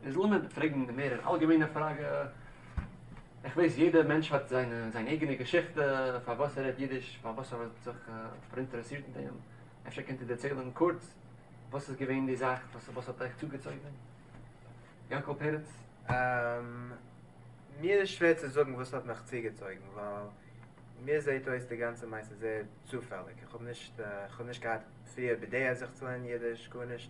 איז לאמיר פרעגן די מער אלגעמיינע פראגע, איך ווייס יעדער מענטש האט זיין אייגענע געשיכטע פארוואס ער רעדט אידיש, פארוואס ער האט זיך פאראינטערעסירט אין דעם, אפשר קענט איר דערציילן קורץ וואס איז געווען די זאך וואס האט אייך צוגעצויגן? יענקל פרץ. מיר איז שווער צו זאגן וואס האט מיך צוגעצויגן, ווייל מיר זעהט אויס די גאנצע מעשה זייער צופעליג, איך האב נישט געהאט פריער בדעה זיך צו לערנען אידיש, גארנישט,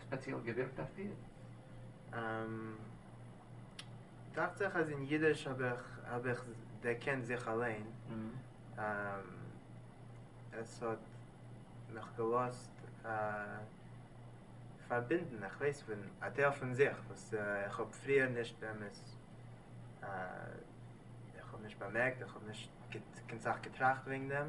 ספעציעל געווירקט אויף דיר? דאכט זיך אז אין אידיש האב איך האב איך דערקענט זיך אליין, עס האט מיך געלאזט פארבינדן איך ווייס פון א טייל פון זיך וואס איך האב פריער נישט באמת איך האב נישט באמערקט איך האב נישט קיין סאך געטראכט וועגן דעם,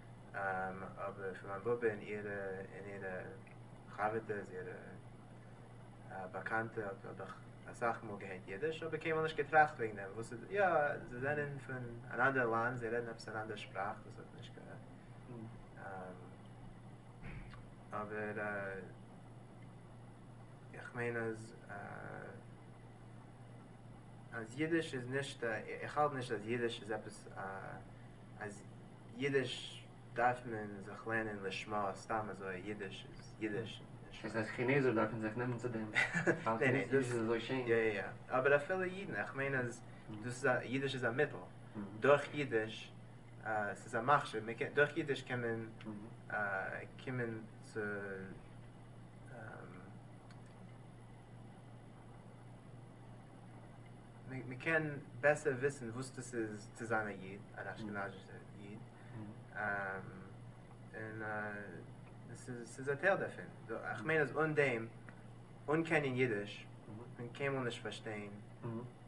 אבער פון מיין באבע און אירע און אירע חבר'טעס אירע באקאנטע האב איך אסאך מאל געהערט אידיש אבער קיינמאל נישט געטראכט וועגן דעם וואס איז יא זיי זענען פון אן אנדער לאנד זיי רעדן עפעס אן אנדער שפראך וואס האט נישט קיין אבער איך מיין אז אז אידיש איז נישט איך האלט נישט אז אידיש איז עפעס א. אז אידיש דארף מען זיך לערנען לשמה, סתם אזוי אידיש איז אידיש. דאס הייסט כינעזער דארפן זיך נעמען צו דעם ווייל אידיש איז אזוי שיין? יא יא יא, אבער אפילו אידן, איך מיין אז דאס איז א, אידיש איז א מיטל, דורך אידיש, ס'איז א מכשיר, מ'קען, דורך אידיש קען מען קומען צו מען קען בעסער וויסן וואס דאס איז צו זיין א איד, אן אשכנז'ישער איד, און ס'איז א טייל דערפון. איך מיין אז אן דעם, אן קענען אידיש, וועט מען קיינמאל נישט פארשטיין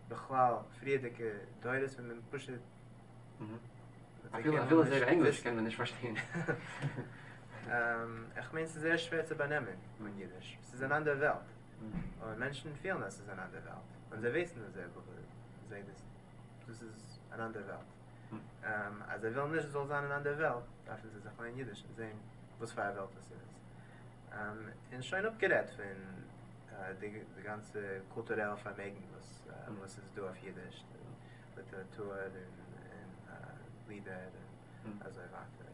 בכלל פריערדיגע דורות, ווען מען פשוט. אפילו זייער ענגליש קען מען נישט פארשטיין. איך מיין ס'איז זייער שווער צו באנעמען אן אידיש, ס'איז אן אנדערע וועלט. און מענטשן פילן אז ס'איז אן אנדער וועלט, און זיי ווייסן אז זייער בחור זעהט דאס, דאס איז אן אנדער וועלט. אז זיי ווילן נישט ס'זאל זיין אן אנדער וועלט, דארפן זיי זיך לערנען אידיש און זעהן וואס פאר א וועלט דאס איז. און שוין אפגערעדט פון די גאנצע קולטורעלע פארמעגן וואס איז דא אויף אידיש, ליטעראטור און לידער און אזוי ווייטער.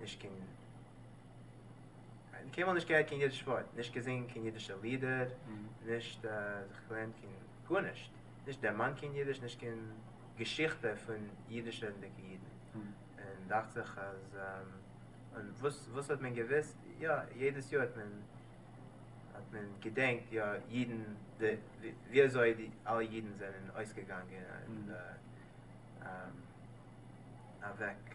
נישט קיין קיין קיינמאל נישט געהערט קיין אידיש ווארט נישט געזינגען קיין אידישע לידער נישט זיך געלערנט קיין גארנישט נישט דערמאנט קיין אידיש נישט קיין געשיכטע פון אידישע רעדנדיגע אידן און דאכט זיך אז און וואס וואס האט מען געוויסט יא יעדעס יאר האט מען האט מען געדענקט יא אידן די ווי אזוי די אלע אידן זענען אויסגעגאנגען און אוועק.